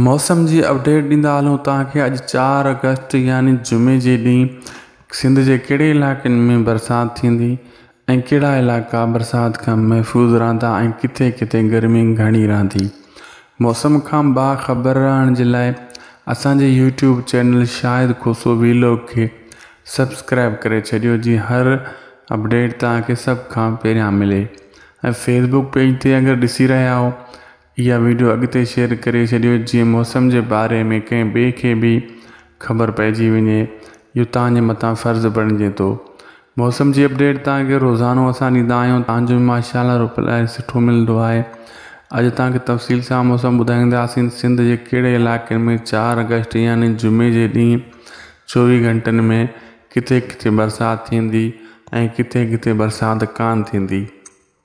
موسم جي اپڊيٽ ڏيندا هلون توهان کي اڄ چار آگسٽ يعني جمعي جي ڏينهن سنڌ جي ڪهڙي علائقن ۾ برسات ٿيندي ۽ ڪهڙا علائقا برسات کان محفوظ رهندا ۽ ڪٿي ڪٿي گرمي گهڻي رهندي موسم کان باخبر رهڻ جي لاء اسان جي YouTube channel Shahid Khoso vlog کي سبسڪرائب ڪري ڇڏيو جي هر اپڊيٽ توهان کي سڀ کان پهريان ملي ۽ فيسبوڪ پيج تي اگر ڏسي رهيا آهو اها ويڊيو اڳتي شيئر ڪري ڇڏيو جيئن موسم جي باري ۾ ڪنهن ٻئي کي به خبر پئجي وڃي اهو توهان جي مٿان فرض بڻجي ٿو موسم جي اپڊيٽ توهان کي روزانو اسان ڏيندا آهيون توهان جو ماشاءالله رپلائي سٺو ملندو آهي اڄ توهان کي تفصيل سان موسم ٻڌائينداسين سنڌ جي ڪهڙي علائقن ۾ چار آگسٽ يعني جمعي جي ڏينهن چوويهه گهنٽن ۾ ڪٿي ڪٿي برسات ٿيندي ۽ ڪٿي ڪٿي برسات ڪانه ٿيندي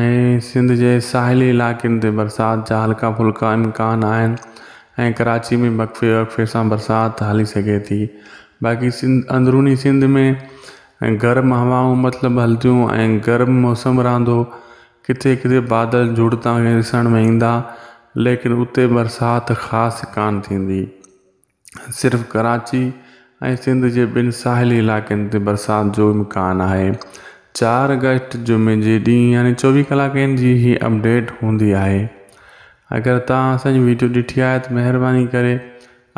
۽ سنڌ جي ساحلي علائقن تي برسات جا هلڪا ڦلڪا امڪان آهن ۽ ڪراچي ۾ وقفي وقفي سان برسات هلي سگهي ٿي باقي سنڌ اندروني سنڌ ۾ ۽ گرم هوائون مطلب هلنديون ۽ گرم موسم رهندو ڪٿي ڪٿي بادل جڙ تان ڏسڻ ۾ ايندا ليڪن اتي برسات خاص ڪانه ٿيندي صرف ڪراچي ۽ سنڌ جي ٻن ساحلي علائقن تي برسات جو امڪان آهي چار اگسٽ جمعي جي ڏينهن يعني چوويهه ڪلاڪن جي هي اپڊيٽ هوندي آهي اگر توهان اسان جي ويڊيو ڏٺي آهي ته مهرباني ڪري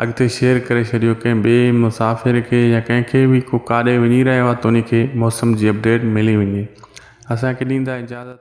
اڳتي شيئر ڪري ڇڏيو ڪنهن ٻئي مسافر کي يا ڪنهن کي به ڪو ڪاڏي وڃي رهيو آهي ته ان کي موسم جي اپڊيٽ ملي وڃي اسان کي ڏيندا اجازت